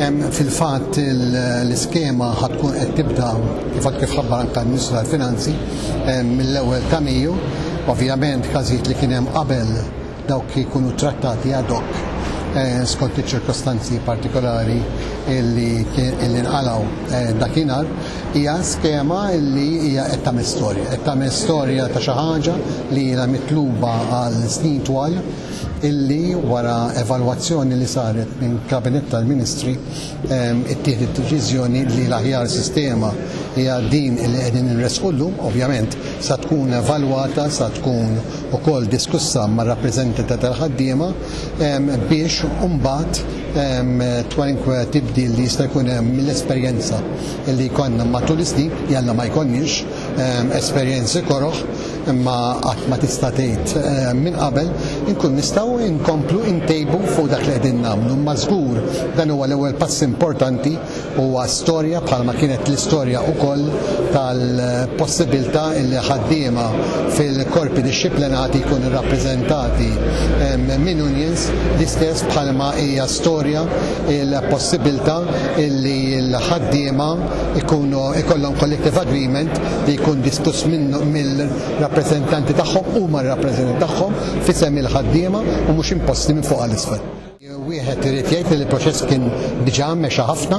Fil-fatt l-iskema ħatkun qed tibda kif kif ħabbar anke l-Ministru tal-Finanzi mill-ewwel ta' Mejju. Ovvjament każijiet li kien hemm qabel dawk jkunu trattati ad hoc eh, skont iċ-ċirkostanzi partikolari li nqalaw eh, dakinhar hija skema li hija qed tagħmel storja, qed tagħmel storja ta' xi ħaġa li hija mitluba għal snin twal illi wara evalwazzjoni li saret minn Kabinett tal-Ministri ittieħdet deċiżjoni li l-aħjar sistema hija din li qegħdin inressqu llum, ovvjament sa tkun evalwata, sa tkun ukoll diskussa mar-rappreżentanti tal-ħaddiema biex imbagħad kwalunkwe tibdil li jista' jkun hemm mill-esperjenza li jkollna matul is-snin, jalla ma jkollniex esperjenzi koroh, imma qatt ma tista' tgħid eh, minn qabel inkun nistgħu inkomplu intejbu fuq dak li qegħdin nagħmlu. Imma żgur dan huwa l-ewwel pass importanti huwa storja bħalma kienet l-istorja wkoll tal-possibilità li ħaddiema fil-korpi dixxiplinati jkunu rappreżentati eh, minn unions l-istess bħalma hija storja il-possibilità li l-ħaddiema ikunu ikollhom collective agreement li jkun diskuss mill-rappreżentanti tagħhom u mar-rappreżentanti tagħhom f'isem il-ħaddiema u mhux imposti minn fuq għal isfel. Wieħed irid jgħid li l-proċess kien diġà mexa ħafna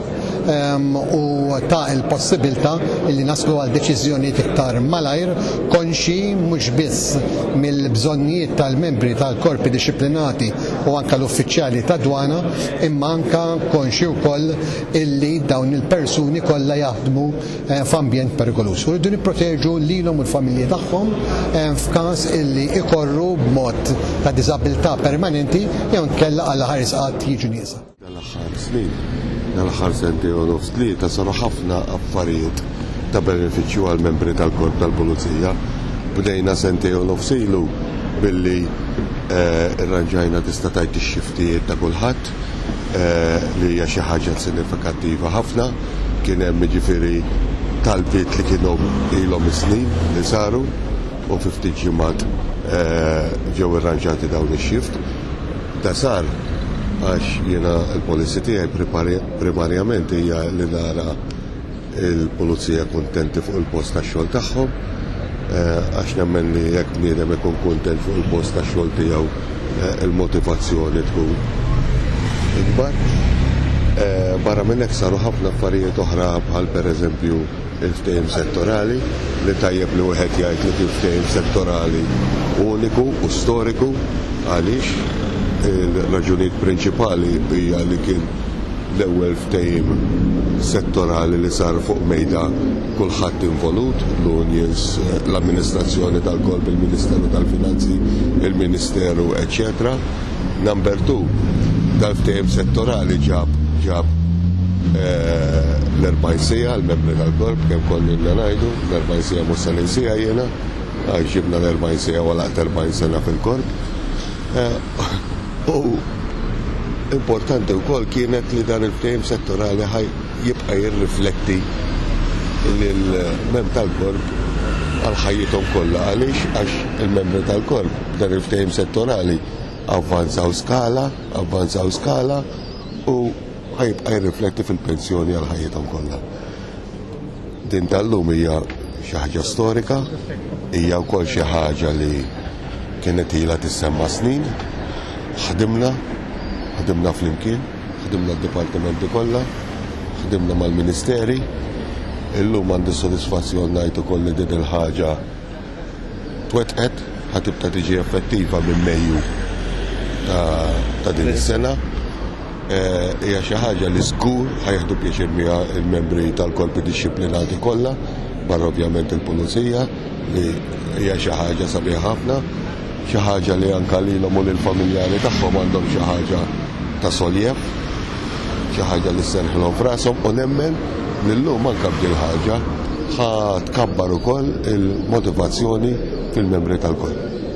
ehm, u ta' il-possibilità li naslu għal deċiżjonijiet iktar malajr konxi mhux biss mill-bżonnijiet tal-membri tal-korpi dixxiplinati u anke l-uffiċjali ta' dwana imma anke konxi wkoll illi dawn il-persuni kollha jaħdmu f'ambjent perikoluż u rridu nipproteġu lilhom u l-familji tagħhom f'każ illi ikorru b'mod ta' diżabilità permanenti jew inkella għall-aħħar qatt jiġu nieqsa. Dal-aħħar snin, dal-aħħar sentejn u nofs tlieta saru ħafna affarijiet ta' benefiċċju għall-membri tal-Korp tal-Pulizija. Bdejna sentejn u nofs ilu billi rranġajna tista' tgħid ix-xiftijiet ta' kulħadd. li hija xi ħaġa sinifikattiva ħafna. Kien hemm jiġifieri talbiet li kienu ilhom is-snin li saru u fi ftit ġimgħat ġew irranġati dawn ix-shift. Da sar għax jiena l-policy tiegħi primarjament hija li nara il-pulizija kuntenti fuq il-post tax-xogħol tagħhom għax nemmen li jekk bniedem ikun kuntent fuq il-post tax-xogħol tiegħu il-motivazzjoni tkun ikbar. Barra minn hekk saru ħafna affarijiet oħra bħal pereżempju il-ftehim settorali li tajjeb li wieħed jgħid li kien ftehim settorali uniku u storiku għaliex il-raġunijiet prinċipali hija li kien L-ewwel ftehim settorali li sar fuq mejda kulħadd involut, l-unions, l-amministrazzjoni tal-korp, il-Ministeru tal-Finanzi, il-Ministeru, eċċetera. Number two, dal-ftehim settorali ġab ġab l-40 siegħa, l-membri tal-korp kemm konnilna ngħidu, l-40 siegħa mhux se ninsiha jiena, għax ġibna l-40 siegħa waqt 40 sena fil-korp. U importanti wkoll kienet li dan il-ftehim settorali ħaj jibqa' jirrifletti lill-membri tal-korp għal ħajjithom kollha. Għaliex? Għax il-membri tal-korp b'dan il-ftehim settorali avvanzaw skala, avvanzaw skala u ħa jibqa' jirrifletti fil-pensjoni għal ħajjithom kollha. Din tal-lum hija xi ħaġa storika, hija wkoll xi ħaġa li kienet ilha tissemma' snin. Ħdimna, ħdimna flimkien, ħdimna d-dipartimenti kollha, ħdimna mal-ministeri. Illum għandi s-sodisfazzjon ngħid ukoll li din il-ħaġa twettqet ħa tibda tiġi effettiva minn Mejju ta' din is-sena eh, hija xi ħaġa li żgur ħajħdu pjaċir miha l-membri tal-korpi dixxiplinati kollha, barra ovvjament il-pulizija li hija xi ħaġa sabiħa ħafna. Xi ħaġa li anke lilhom u lill-familjari tagħhom għandhom xi ħaġa ta' solliev, xi ħaġa li sserrħilhom f'rashom u nemmen li llum anke b'din il-ħaġa ħa tkabbar ukoll il-motivazzjoni fil-membri tal-korp.